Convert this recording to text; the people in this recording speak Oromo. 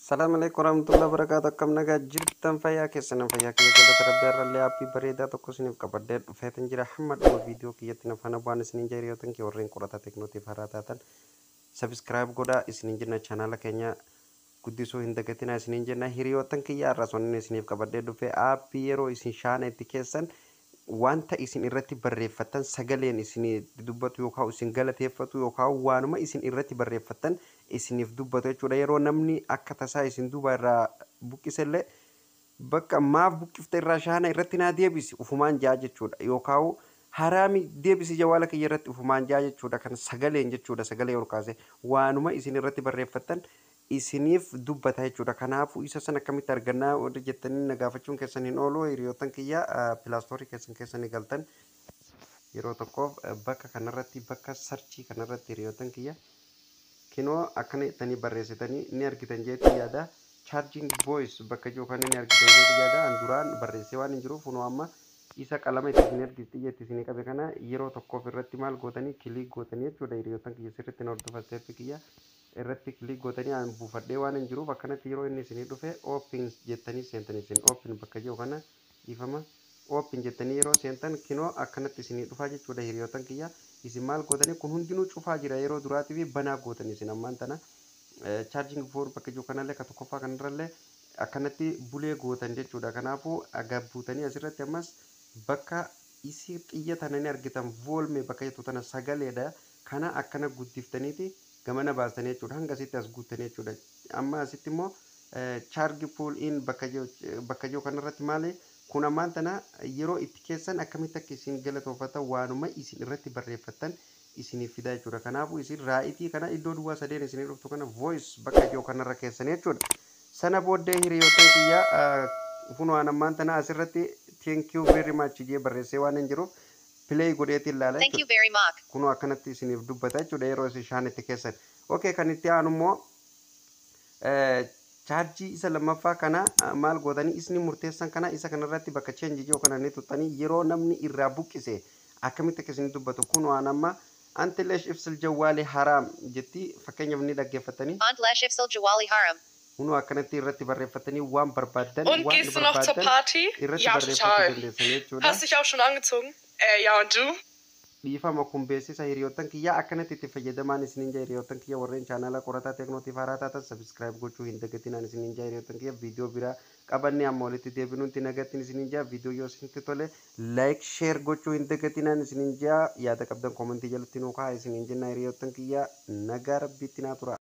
Salaam alaikum warahmatullahi wabarakatuh akkam nagaa jirtan fayyaa keessan fayyaa kiyya galata rabbi har'allee aappii bareedaa tokko isiniif qabadhee dhufeetan jira hamma dhuma viidiyoo kiyyatti na faana bu'aan isiniin jira yoo tanke warreen qorataa teknootiif haraa taatan sabiskiraayib godhaa isiniin jenna chaanaala keenya guddisuu hin dagatinaa isiniin jenna hiriyoottan kiyya har'as wanni isiniif qabadhee dhufee aappii yeroo isin shaana itti keessan wanta isin irratti barreeffattan sagaleen isinitti dubbatu yookaan isin galateeffatu yookaan waanuma isin irratti barreeffattan isiniif dubbatu jechuudha. Yeroo namni akka tasaa isin duubaa irraa buqqisellee bakka maaf buqqifte irraa shaana irratti naa deebisi ufumaan ja'a jechuudha. Yookaan haraami deebisi jawaala kiyya irratti ufumaan ja'a jechuudha. Kan sagaleen jechuudha sagalee ol kaasee waanuma isin irratti barreeffattan isiniif dubbata jechuudha. Kanaafuu isa san akkamitti arganna warri jettanii na gaafachuun keessan hin oolu. Hiriyoottan kiyya pilaastoorii keessan keessa ni galtan. Yeroo tokkoof bakka kanarratti bakka sarchii kanarratti hiriyoottan kiyya kinoo akkana jettanii barreessitanii ni argitan jeetii yaada. Charging voice bakka jiru kana ni argitan jeetii yaada. An duraan barreessee waan hin jiruuf kunoo amma isa qalama itti isin ergis xiyya itti isin qabe kana yeroo tokkoof irratti maal gootanii kiliik gootanii jechuudha hiriyoottan kiyya sirriitti na hordofa isteeppi kiyya irratti click gootanii an buufadhee waanan jiruuf akkanatti yeroo inni isinii dhufe open jettanii seentan isin open bakka jiru kana dhiifama open jettanii yeroo seentan kinoo akkanatti isinii dhufaa jechuudha hiriyootan kiyya isin maal gootanii kun hundinuu cufaa jira yeroo duraatii fi banaa gootan isin ammaan tana charging for bakka jiru kanallee ka tokkoffaa kanarrallee akkanatti bulee gootan jechuudha kanaafuu agabbuutanii asirratti ammas bakka isii xiyya tana ni argitan voolme bakka jettu tana sagaleedha kana akkana guddiftaniiti gamana baastanii jechuudha. Hanga asitti as guuttanii jechuudha. Amma asitti immoo charge pull in bakka jiru bakka jiru kanarratti maali kun ammaan tana yeroo itti keessan akkamitti akka isin galatoofatan waanuma isin irratti barreeffattan isiniif fidaa jechuudha. Kanaafuu isin raayitii kana iddoo duwwaa sadeen isinii dhuftu kana voice bakka jiru kanarra keessan jechuudha. Sana booddee hiriyoottan kiyya kunoo an ammaan tana asirratti thank you very much jee barreessee waan hin jiruuf play godheetiin laala Thank you jechuudha. very much. Kunoo akkanatti isiniif dubbata jechuudha yeroo isin shaanitti keessan. Okay kan itti aanu immoo eh, chaarjii isa lammaffaa kana ah, maal gootanii isni murteessan kana isa kanarratti bakka change jiru kana ni tuttanii yeroo namni irraa buqqise akkamitti akka isin dubbatu kunoo an amma anti lesh ifsil jawwaali haraam jetti fakkeenyaaf ni dhaggeeffattanii Aunt Lesh Ifsal Jawali Haram. Kunoo akkanatti irratti barreeffattanii waan barbaaddan Und gehst du noch zur Party? Ja, total. Hast dich auch schon angezogen? Äh, ja, und du? Dhiifama kun beeksisa hiriyoottan kiyyaa akkanatti itti fayyadamaan isiniin ja'a hiriyoottan kiyya warreen chaanaala qorataa Tecno tiif haaraa taatan subscribe gochuu hin dagatinaan isiniin ja'a hiriyoottan kiyya video biraa qabannee amma walitti deebinuutti nagattin isiniin ja'a video yoo isinitti tole like share gochuu hin dagatinaan isiniin ja'a yaada qabdan comment jalatti nuu kahaa isiniin jennaa hiriyoottan kiyya nagaa rabbiitti naa turaa.